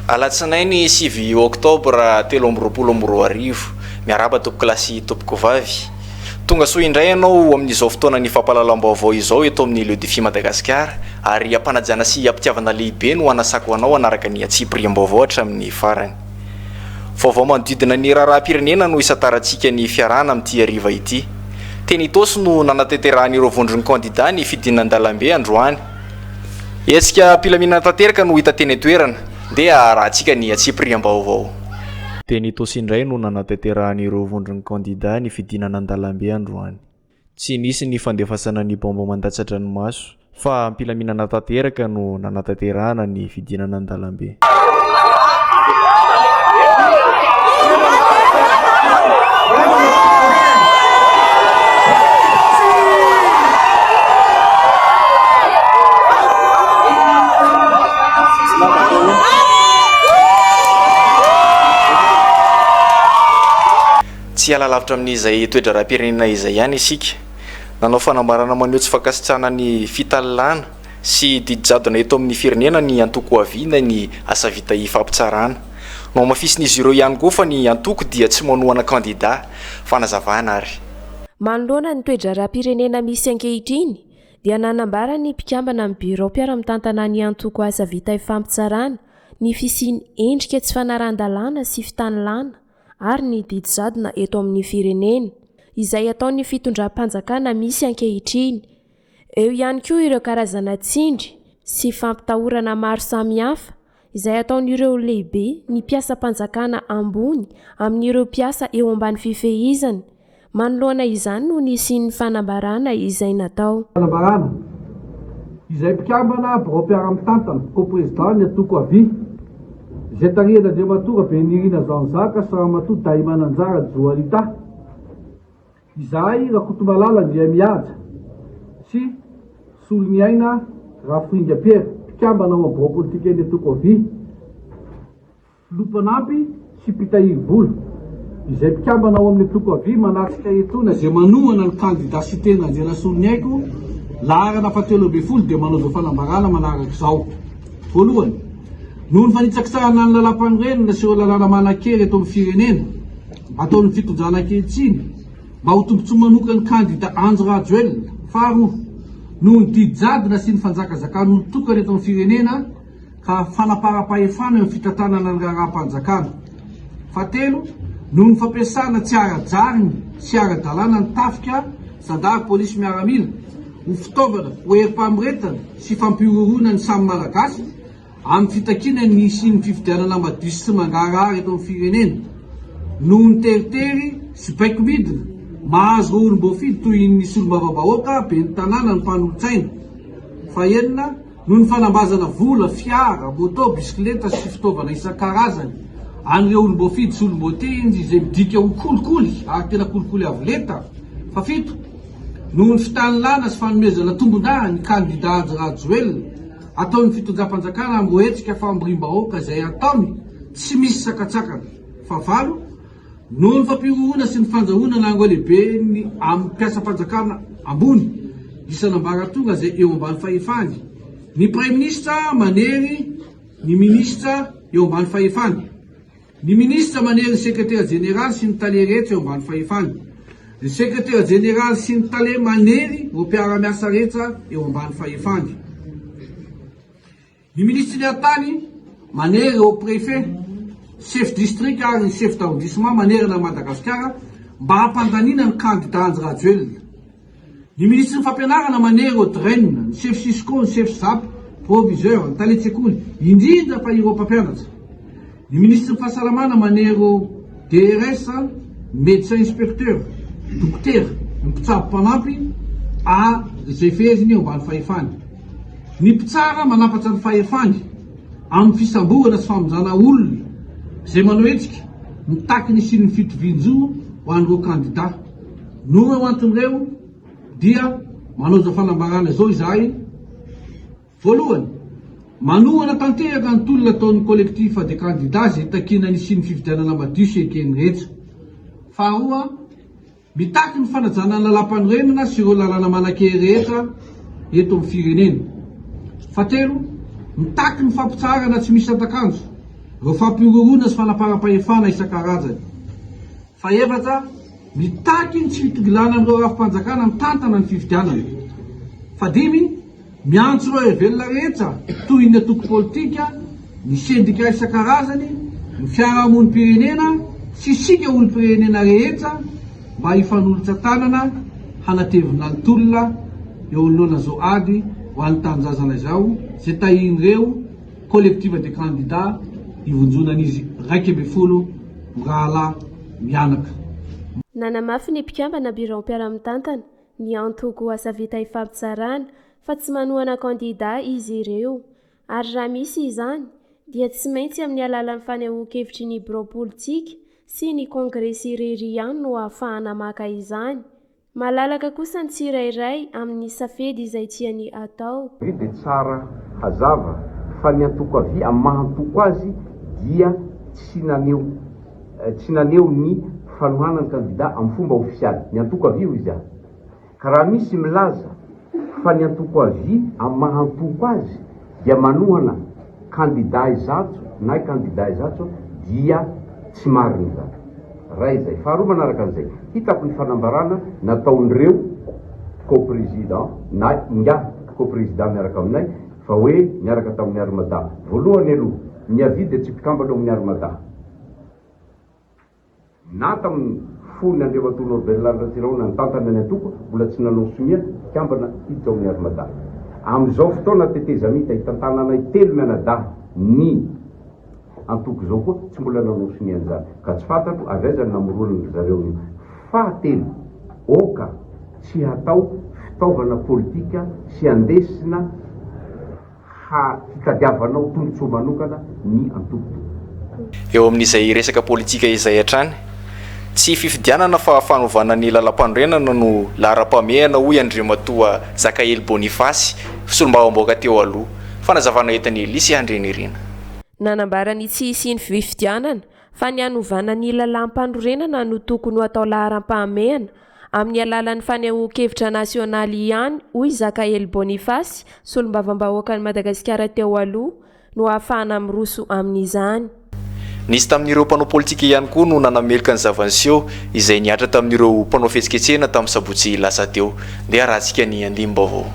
Alatsinainy sivy oktobra telo amby roapolo amby roa arivo. Miarahaba tompokolahy sy tompokovavy. Tonga soa indray ianao ho amin'izao fotoanan'ny fampahalalam-baovao izao eto amin'ny Leudfi Madagasikara ary ampanajana sy ampitiavana lehibe no anasako anao hanaraka ny antsipiriam-baovao hatramin'ny farany. Vaovao manodidina ny raharaham-pirenena no hisantarantsika ny fiarahana amin'ity hariva ity. Teny Itaosy no nanatanterahan'ireo vondron'ny kandidà ny fidinandalambe androany. Hetsika am-pilaminana tanteraka no hita teny an-toerana. Ndeha harahantsika ny antsipiriam-baovao. Teny Itaosy indray no nanatanterahan'ireo vondron'ny kandidà ny fidinana an-dalambe androany. Tsy nisy ny fandefasana ny baomba mandatsa-dranomaso fa am-pilaminana tanteraka no nanatanterahana ny fidinana an-dalambe. Tsy hiala lavitra amin'izay toe-draharaham-pirenena izay ihany isika. Nanao fanambarana maneho tsy fankasitrahana ny fitalilana sy didy jadona eto amin'ny firenena ny antoko Ho Avy Inay ny asa vita hifampitsarana. Nohamafisin'izy ireo ihany koa fa ny antoko dia tsy manohana kandida. Fanazavana ary. Manoloana ny toe-draharaham-pirenena misy ankehitriny dia nanambara ny mpikambana amin'ny birao mpiara-mitantanan'ny antoko Asa Vita Hifampitsarana ny fisian'ny endrika tsy fanarahan-dalàna sy fitanilana ary ny didy jadona eto amin'ny firenena, izay ataon'ny fitondram-panjakana misy ankehitriny. Eo ihany koa ireo karazana tsindry sy fampitahorana maro samihafa izay ataon'ireo lehibe ny mpiasam-panjakana ambony amin'ireo mpiasa eo ambany fifehizany. Manoloana izany no nisian'ny fanambarana izay natao. Fanambarana izay mpikambana biraom-piaramitantana, Co-Président, ny Antoko Avia, izay tarihan'Andriamatoa Rabenirina Jean Jacques sy Ramatoa Dahimananjara Joanita, izahay Rakotomalala Andriamihaja sy Soloniaina Raforinga Pierre, mpikambana ao amin'ny biraom-politikan'ny Antoko Avia, Filoha mpanampy sy mpitahiry vola, izay mpikambana ao amin'ny antoko Avia manatrika etoana izay manohana ny kandida Siteny Randrianasoloniaiko, laharana fahatelo ambin'ny folo dia manao izao fanambarana manaraka izao. Voalohany, noho ny fanitsakitsahana ny lalàmpanorenana sy ireo lalàna manan-kery eto amin'ny firenena ataon'ny fitondrana ankehitriny mba ho tombontsoa manokan'ny kandida Andry Rajoelina. Faharoa, noho ny didy jadona sy ny fanjakazakan'olon-tokana eto amin'ny firenena, ka fanaparam-pahefana eo amin'ny fitantanana ny raharaham-panjakana. Fahatelo, noho ny fampiasana tsy ara-drariny sy ara-dalàna ny tafika, zandary, polisy, miaramila, ho fitaovana, ho herim-pamoretana sy fampihorohoroana ny samy Malagasy, amin'ny fitakiana ny hisian'ny fifidianana madio sy tsy mangarahara eto amin'ny firenena, noho ny teritery sy baiko midina mahazo ireo olom-boafidy toy ny solombavambahoaka, ben'ny tanàna, ny mpanolotsaina. Fahenina. Noho ny fanambazana vola, fiara, moto, bisikileta sy fitaovana isan-karazany an'ireo olom-boafidy sy olom-boatendry izay midika ho kolikoly ary tena kolikoly avo lenta. Fafito, noho ny fitanilana sy fanomezana tombon-dahy ny kandidà Andry Rajoelina, ataon'ny fitondram-panjakana ambohetsika famoriam-bahoaka izay ataony tsy misy sakantsakana. Fahavalo, Noho ny fampihorohoroana sy ny fandrahonana ireo lehibe amin'ny mpiasam-panjakana ambony isan'ambaratonga izay eo ambany fahefany, ny Praiminisitra manery ny Minisitra eo ambany fahefany, ny Minisitra manery ny Sekretera Jeneraly sy ny Tale rehetra eo ambany fahefany, ny Sekretera Jeneraly sy ny Tale manery ireo mpiara-miasa rehetra eo ambany fahefany. Ny minisitry ny haritany manery ireo préfet, chef district ary chef d'arrondissement manerana an'i Madagasikara mba hampandaniana ny kandida Andry Rajoelina. Ny minisitry ny fampianarana manery ireo DREN, ny chef cisco, ny chef zap, proviseur, ny talen-tsekoly, indrindra fa ireo mpampianatra. Ny Minisitry ny Fahasalamana manero DRS, Médecin Inspecteur, Dokotera, ny Mpitsabo Mpanampy, a izay feheziny eo ambany fahefany. Ny Mpitsara manapatra ny fahefany amin'ny fisamborana sy famonjana olona izay manao hetsika mitaky ny hisian'ny fitovian-jo ho an'ireo kandidà. Noho ireo antony ireo dia manaoizao fanambarana izao izahay. Voalohany, manohana tanteraka ny tolona ataon'ny Collectif des candidats izay takiana ny hisian'ny fifidianana madio sy eken'ny rehetra. Faharoa, mitaky ny fanajana ny lalàmpanorenana sy ireo lalàna manan-kery rehetra eto amin'ny firenena. Fahatelo, mitaky ny fampitsaharana tsy misy santa-kanjo ireo fampihorohoroana sy fanaparam-pahefana isan-karazany. Fahefatra, mitaky ny tsy fitongilana amin'ireo rafi-panjakana mitantana ny fifidianana. Fahadimy, Miantso ireo hevelona rehetra toy ny antoko politika, ny sendika isan-karazany, ny fiarahamonim-pirenena sy isika olom-pirenena rehetra mba hifanolotra tanana hanatevina ny tolona eo anoloana izao ady ho an'ny tanindrazana izao izay tahian'ireo Collective des candidats ivonjonan'izy iraika ambin'ny folo mirahalahy mianaka. Nanamafy ny mpikambana biraom-piaraha-mitantana, Ny antoko Asa Vita Ifampizarana fa tsy manohana kandida izy ireo ary raha misy izany dia tsy maintsy amin'ny alalan'ny fanehoan-kevitry ny birao politika sy ny kongresy irery ihany no ahafahana maka izany. Malalaka kosa ny tsirairay amin'ny safedy izay tiany hatao. Ve dia tsara hazava fa ny antoko avia maha-antoko azy dia tsy naneho. Tsy naneho ny fanohanany kandida amin'ny fomba ofisialy ny antoko Avia hoy izy ary ka raha misy milaza fa ny antoko Avia amin'ny maha antoko azy dia manohana kandida Izato nay kandida Izato dia tsy marina izany. Iray izay. Faharoa manaraka an'izay, hitako ny fanambarana nataon'ireo co-président na ingahy co-président miaraka aminay fa hoe niaraka tamin'ny Armada. Voalohany aloha, ny Avia dia tsy mpikambana ao amin'ny Armada. Na tamin'ny fony Andriamatoa Norbert Lary Ratsirahona nitantana ny antoko, mbola tsy nanao sonia mpikambana i Jaona Hermadahy. Amin'izao fotoana tetezamita itantananay telo mianadahy ny antoko izao koa tsy mbola nanao sonia an'izany, ka tsy fantatro avy aiza no namoroany ry zareo an'io. Fahatelo, aoka tsy hatao fitaovana politika sy andesina. ha hitadiavanao tombotsoa manokana ny antoko. Eo amin'izay resaka politika izay hatrany, tsy fifidianana fa fanovana ny lalampanorenana no laharam-pahamehana hoy Andriamatoa Jakahely Boniface, solombavambaoka teo aloha. Fanazavana entin'i Elisy Handrianirina. Nanambara ny tsy hisian'ny fifidianana fa ny hanovana ny lalampanorenana no tokony ho atao laharam-pahamehana amin'ny alalan'ny fanehoan-kevitra nasionaly ihany, hoy Zakaely Boniface, solombavambahoakan'i Madagasikara teo aloha, no ahafahana miroso amin'izany. Nisy tamin'ireo mpanao politika ihany koa no nanameloka ny zava-niseho izay nihatra tamin'ireo mpanao fihetsiketsehana tamin'ny sabotsy lasa teo. Ndeha harahantsika ny andinim-baovao.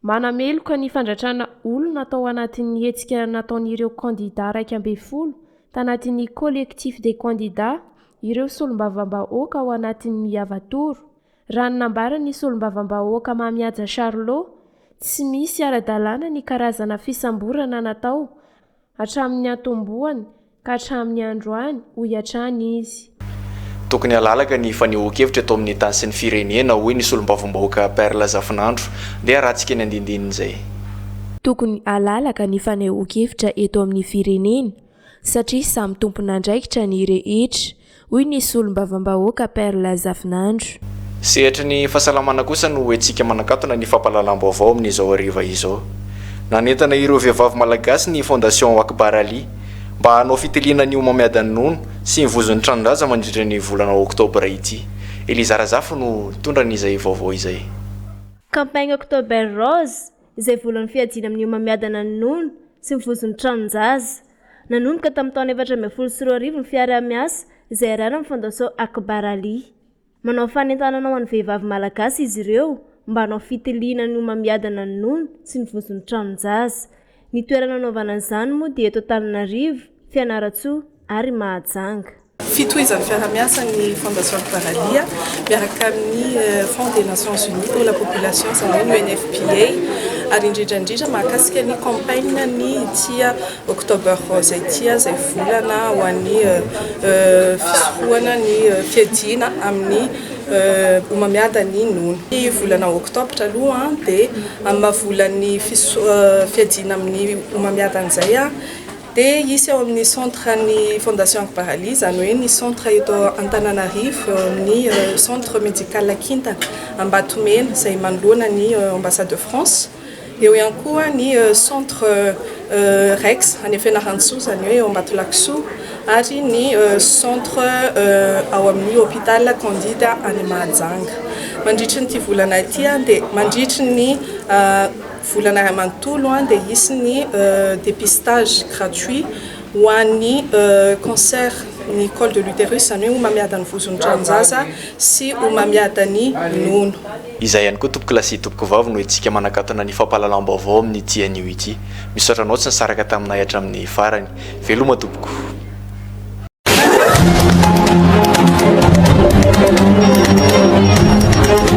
Manameloka ny fandratrana olona tao anatin'ny hetsika nataon'ireo kandidà iraika ambin'ny folo tanatin'ny Collectif des candidats ireo solombavambahoaka ao anatin'ny Yava Tour, raha ny nambaran'ny solombavambahoaka Mahamihaja Charlot, tsy misy ara-dalàna ny karazana fisamborana natao hatramin'ny niantombohany ka hatramin'ny androany, hoy hatrany izy. Tokony halalaka ny fanehoan-kevitra eto amin'ny tany sy ny firenena, hoy ny solombavambahoaka Perle Zafinandro. Ndeha haratsika ny andindinin'izay. Tokony halalaka ny fanehoan-kevitra eto amin'ny firenena, satria samy tompon'andraikitra ny rehetra, hoy ny solombavambahoaka Perle Zafinandro. Sehatry ny fahasalamana kosa no hetsika manakatona ny fampahalalam-baovao amin'izao hariva izao. Nanentana ireo vehivavy malagasy ny Fondation Akbar Ali mba hanao fitiliana ny homamiadan'ny nono sy ny vozon'ny tranon-dRaja mandritra ny volana oktobra ity. Eliza Razafy no nitondra an'izay vaovao izay. Campagne October Rose, izay volan'ny fiadiana amin'ny homamiadana ny nono sy ny vozon'ny tranon-jaza. Nanomboka tamin'ny taona efatra ambin'ny folo sy roa arivo ny fiaraha-miasa izay iarahan'ny Fondation Akbar Ali. Manao fanentanana ho an'ny vehivavy malagasy izy ireo mba hanao fitiliana ny homamiadana ny nono sy ny vozon'ny tranon-jaza. Ny toerana hanaovana izany moa dia eto Antananarivo, Fianarantsoa ary Mahajanga. Fitohizan'ny fiaraha-miasa ny Fondation Paralia miaraka amin'ny Fonds des Nations Unies pour la Population izany hoe ny UNFPA ary indrindra indrindra mahakasika ny campagne ny tia October Rose ity izay volana ho an'ny fisorohana ny fiadiana amin'ny homamiadan'ny nono. Ny volana Octobre aloha dia amin'ny maha volan'ny fiadiana amin'ny homamiadan'izay Dia hisy ao amin'ny centre ny Fondation Akbaraly, izany hoe ny centre eto Antananarivo, eo amin'ny centre médical kintana Ambatomena, izay manoloana ny Ambassade de France. Eo ihany koa ny centre Rex any Fianarantsoa, izany hoe eo Ambatolakisoa, ary ny centre ao amin'ny hôpital Candide any Mahajanga. Mandritry ny ity volana ity dia mandritry ny Volana iray manontolo dia hisy ny dépistage gratuit ho an'ny cancer ny col de l'uterus, izany hoe homamiadan'ny vozon'ny tranon-jaza sy homamiadan'ny nono. Izay ihany koa tompoko lahy sy tompoko vavy no hetsika manakatona ny fampahalalam-baovao amin'ity anio ity. Misaotra anao tsy nisaraka taminay hatramin'ny farany. Veloma tompoko.